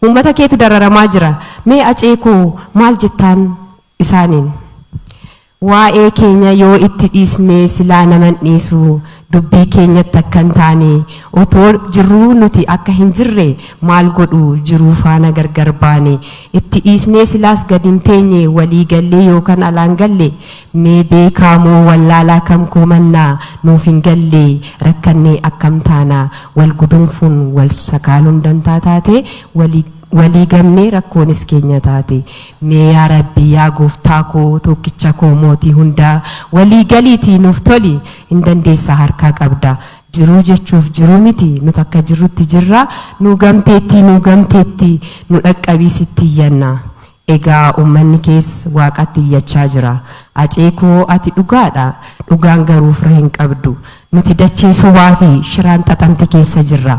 Uummata keetu dararamaa jira. Mee Acee koo maal jettaan isaaniin? Waa'ee keenya yoo itti dhiisnee silaa nama hin dhiisu, dubbii keenyatti akka hin taane, otoo jirruu nuti akka hin jirre maal godhu jiruu faana gargar baane, itti dhiisnee silaas gad hin teenye walii gallee yookan alaan galle Mee beekaa moo wallaalaa kam koo mannaa nuuf hin galle rakkannee akkam taana wal guduunfuun wal sakaaluun dantaa taate walii walii gamnee rakkoonis keenya taate mee yaa rabbi yaa gooftaa koo tookkicha koo mootii hundaa walii galiitii nuuf toli hin dandeessa harkaa qabda jiruu jechuuf jiruu miti nut akka jirrutti jirra nuu gamteettii nuu gamteettii nu dhaqqabii sitti iyyanna Egaa ummanni kees waaqatti iyyachaa jira. Acee koo ati dhugaadha. Dhugaan garuu fira hin qabdu. Nuti dachee sobaa fi shiraan xaxamte keessa jirra.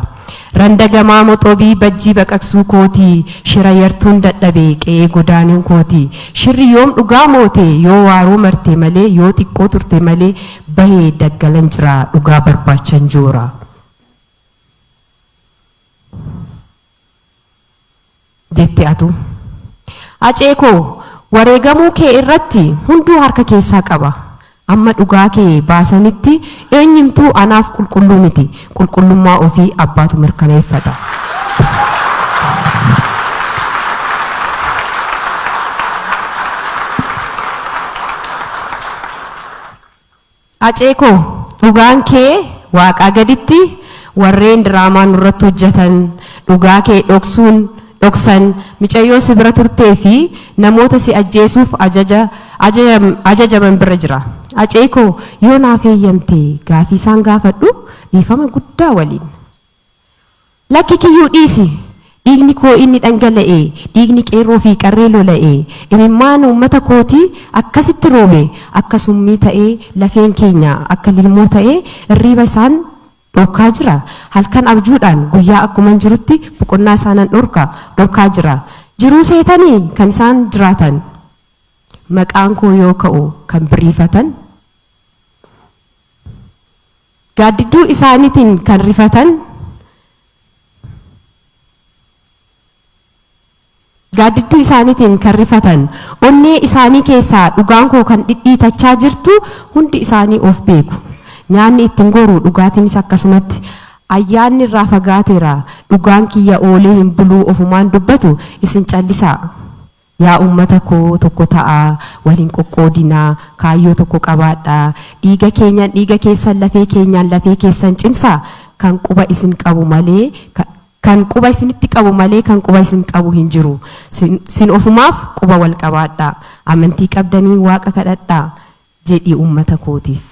Randa gamaa moxobii bajjii baqaqsuu kooti. Shira yartuun dadhabe qe'ee godaanuu kooti. Shirri yoom dhugaa moote yoo waaroo marte malee yoo xiqqoo turte malee bahe daggalan jira dhugaa barbaachan joora. jette atuu. Hacee koo wareegamuu kee irratti hunduu harka keessaa qaba. Amma dhugaa kee baasanitti eenyumtuu anaaf qulqulluu miti. Qulqullummaa ofii abbaatu mirkaneeffata. Hacee koo dhugaan kee waaqaa gaditti warreen diraamaa nurratti hojjatan dhugaa kee dhoksuun dhoksan micayyoo si bira turtee fi namoota si ajjeesuuf ajaja ajajaman bira jira Hacee koo yoo naaf heeyyamte gaafii isaan gaafadhu dhiifama guddaa waliin. Lakki kiyyuu dhiisi! Dhiigni koo inni dhangala'e, dhiigni qeerroo fi qarree lola'e, imimmaan uummata kootii akkasitti roobe akka summii ta'ee lafeen keenya akka lilmoo ta'ee irriiba isaan dhorkaa jira. Halkan abjuudhaan guyyaa akkuman jirutti boqonnaa isaanan dhorka, dhorkaa jira. Jiruu seetanii kan isaan jiraatan maqaan koo yoo ka'u kan birriifatan? Gaaddidduu isaaniitiin kan rifatan, gaaddidduu isaaniitiin kan rifatan, onnee isaanii keessaa dhugaan koo kan dhidhiitachaa jirtu hundi isaanii of beeku. Nyaanni itti hin goru, dhugaatiinis akkasumatti. Ayyaanni irraa fagaateera, dhugaan kiyya oolee hin buluu ofumaan dubbatu, isin callisaa. Yaa ummata koo tokko ta'aa, wal hin qoqqoodinaa, kaayyoo tokko qabaadhaa, dhiiga keenyan dhiiga keessan, lafee keenyaan lafee keessan cimsaa, kan quba isin qabu malee ka, kan quba isinitti qabu malee kan quba isin qabu hin jiru. Sin, sin ofumaaf quba wal qabaadhaa. Amantii qabdaniin Waaqa kadhadhaa. Jedhii ummata kootiif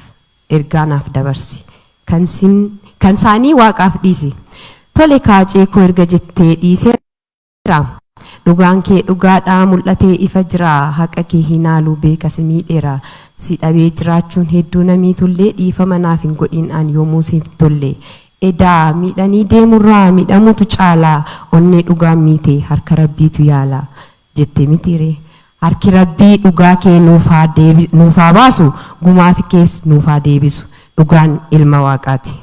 ergaa naaf dabarsi. Kan sin, kan saanii Waaqaaf dhiisi. Tole kaacee koo erga jettee dhiisee. Jira. Dhugaan kee dhugaadha mul'atee ifa jira haqa kee hinaalu beeka si miidheera si dhabee jiraachuun hedduu na miitullee dhiifama naaf hin godhin an yoomuu siif tolle edaa miidhanii deemurraa miidhamutu caala onnee dhugaan miite harka rabbiitu yaala jette mitiiree harki rabbii dhugaa kee nuuf haa deebi nuuf haa baasu gumaafi kees nuuf haa deebisu dhugaan ilma waaqaati.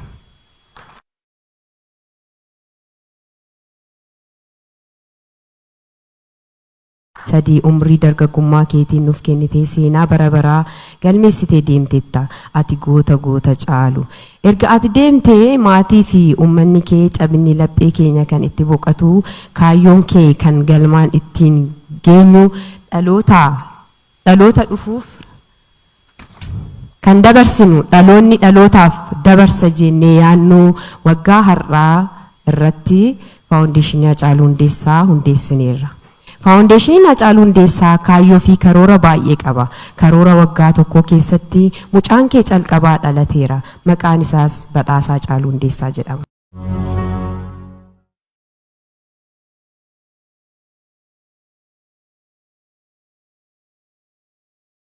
3 umrii dargaggummaa keetiin nuuf kennitee seenaa bara baraa galmeessitee deemteetta. Ati goota goota caalu. Erga ati deemtee maatii fi ummanni kee cabinni laphee keenya kan itti boqatu, kaayyoon kee kan galmaan ittiin geenyu dhalootaa dhaloota dhufuuf Kan dabarsinu dhaloonni dhalootaaf dabarsa jeennee yaadnu waggaa har'aa irratti Faawundeeshinii Hacaaluu Hundeessaa hundeessineerra. Faawundeeshiniin Hacaaluu Hundeessaa kaayyoo fi karoora baay'ee qaba. Karoora waggaa tokkoo keessatti mucaan kee calqabaa dhalateera. Maqaan isaas Badhaasaa Hacaaluu Hundeessaa jedhama.